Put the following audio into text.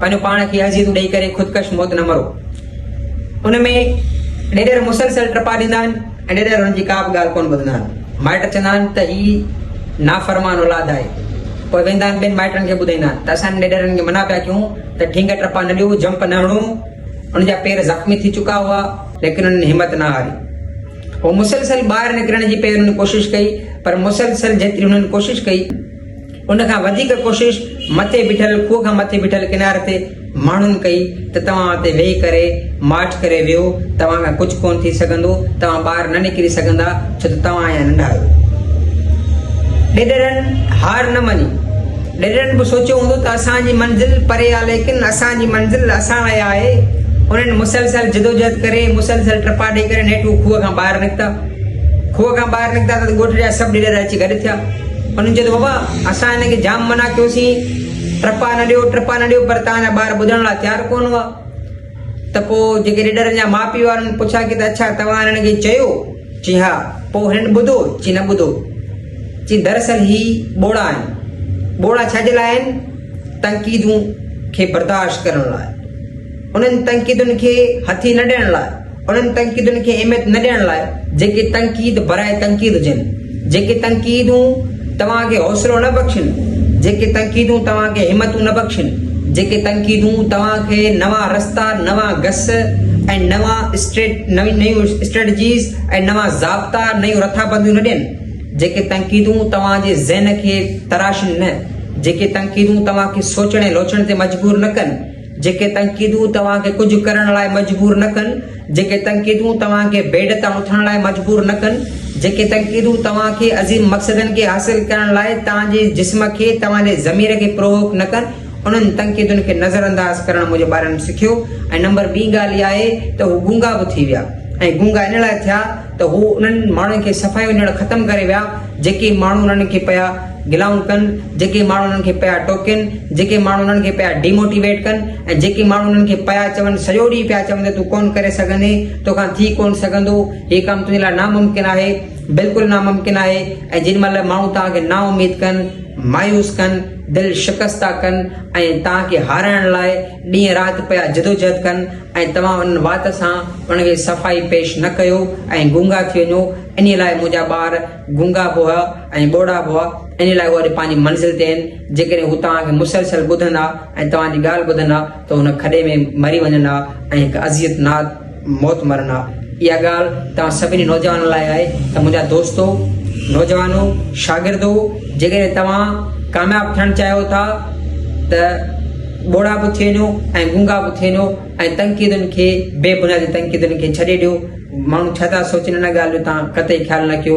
پنهنجو پاڻ کي اذيتون ڏئي ڪري خودڪش موت نه مرو ان ۾ ڏيڏر مسلسل ٽپا ڏيندا آهن ۽ ڏيڏر هن جي ڪا به ڳالهه ڪونه ٻڌندا آهن مائٽ چوندا آهن ته هي نافرمان اولاد آهي پوء ويندا آهن ٻين مائٽن کي ٻڌائيندا آهن ته اسان ڏيڏرن کي منع پيا ڪيون ته ڍينگ ٽپا نه ڏيو جمپ نه هڻو ان جا پير زخمي ٿي چڪا هئا ليڪن انهن همت نه هاري هو مسلسل ٻاهر نڪرڻ جي پيرن ڪوشش ڪئي پر مسلسل جيتري انهن ڪوشش ڪئي ان کان وڌيڪ ڪوشش مٿي بيٺل کوهه کان مٿي بيٺل ڪناري تي ماڻهن ڪئي ته توهان اتي ويهي ڪري ماٺ ڪري ويهو، توهان کان ڪجهه ڪونه ٿي سگهندو، توهان ٻاهر نه نڪري سگهندا ڇو ته توهان اڃا ننڍا آهيو. ڏيڏرن هار نه مڃي. ڏيڏرن به سوچيو هوندو ته اسان جي منزل پري آ ليڪن اسان جي منزل اسان لاء آهي. انهن مسلسل جدوجهد ڪري، مسلسل ٽپا ڏئي ڪري نيٺ هو کوهه کان ٻاهر نڪتا. کوهه کان ٻاهر نڪتا ته ڳوٺ جا سڀ نيڏر اچي گڏ ٿيا. انهن چيو ته بابا اسان هن کي جام منع ڪيوسين ٽپا نه ڏيو ٽپا نه ڏيو پر توهان جا ٻار ٻڌڻ لاء تيار ڪونه هئا ته پوء جيڪي نيڏرن جا ماء پيء هئا انهن پڇا ڪي ته اڇا توهان هنن کي چيو؟ چي ها پوء هنن ٻڌو؟ چي نه ٻڌو. چي دراصل هي ٻوڙا آهن. ٻوڙا ڇا جي لاء آهن؟ تنقيدون کي برداشت ڪرڻ لاء. انهن تنقيدن کي هٿي نه ڏيڻ لاء. انهن تنقيدن کي اهميت نه ڏيڻ لاء جيڪي تنقيد براء تنقيد هجن، جيڪي تنقيدون توهان کي حوصلو نه بخشن، جيڪي تنقيدون توهان کي همتون نه بخشن، جيڪي تنقيدون توهان کي نوان رستا، نوان گس ۽ نوان نيون اسٽريٽجيز ۽ نوان ضابطا، نيون رٿابنديون نه ڏين، جيڪي تنقيدون توهان جي ذهن کي تراشن نه، جيڪي تنقيدون توهان کي سوچڻ ۽ لوچڻ تي مجبور نه ڪن. جيڪي تنقيدون توهان کي ڪجهه ڪرڻ لاء مجبور نه ڪن، جيڪي تنقيدون توهان کي بيڊ تان اٿڻ لاء مجبور نه ڪن، جيڪي تنقيدون توهان کي عظيم مقصدن کي حاصل ڪرڻ لاء توهان جي جسم کي توهان جي ضمير کي پرووڪ نه ڪن، انهن تنقيدن کي نظرانداز ڪرڻ منهنجي ٻارڙن سکيو ۽ نمبر ٻي ڳالهه اها آهي ته هو گونگا به ٿي ويا ۽ گونگا ان لاء ٿيا ته هو انهن ماڻهن کي صفائي وڃڻ ختم ڪري ويا جيڪي ماڻهو انهن کي پيا گلائون ڪن، جيڪي ماڻهو انهن کي پيا ٽوڪين، جيڪي ماڻهو انهن کي پيا ڊي موٽيويٽ ڪن ۽ جيڪي ماڻهو انهن کي پيا چون، سڄو ڏينهن پيا چون ته تون ڪونه ڪري سگهندين، تو کان ٿي ڪونه سگهندو، هي ڪم تنهنجي لاء ناممڪن آهي، بلڪل ناممڪن آهي ۽ جن مهل ماڻهو توهان کي نااميد ڪن، مايوس ڪن، دل شڪسته ڪن ۽ توهان کي هارائڻ لاء ڏينهن رات پيا جدوجهد ڪن ۽ توهان انهن وات سان انهن کي صفائي پيش نه ڪيو ۽ گونگا ٿي وڃو، انهيء لاء منهنجا ٻار. گونگا به ۽ ٻوڙا به ان لاء اڄ پنهنجي منزل تي آهن، جيڪڏهن هو توهان کي مسلسل ٻڌندا ۽ توهان جي ڳالهه ٻڌندا ته هو ان کڏي ۾ مري وڃن ها ۽ هڪ اذيت ناڪ موت مرن ها. اها ڳالهه توهان سڀني نوجوانن لاء آهي ته منهنجا دوستو، نوجوانو، شاگردو جيڪڏهن توهان ڪامياب ٿيڻ چاهيو ٿا ته ٻوڙا به ٿي وڃو ۽ گونگا به ٿي وڃو ۽ تنقيدن کي بي بنيادي تنقيدن کي ڇڏي ڏيو. ماڻهو ڇا ٿا سوچن ان ڳالهه جو توهان قطعي خيال نه ڪيو.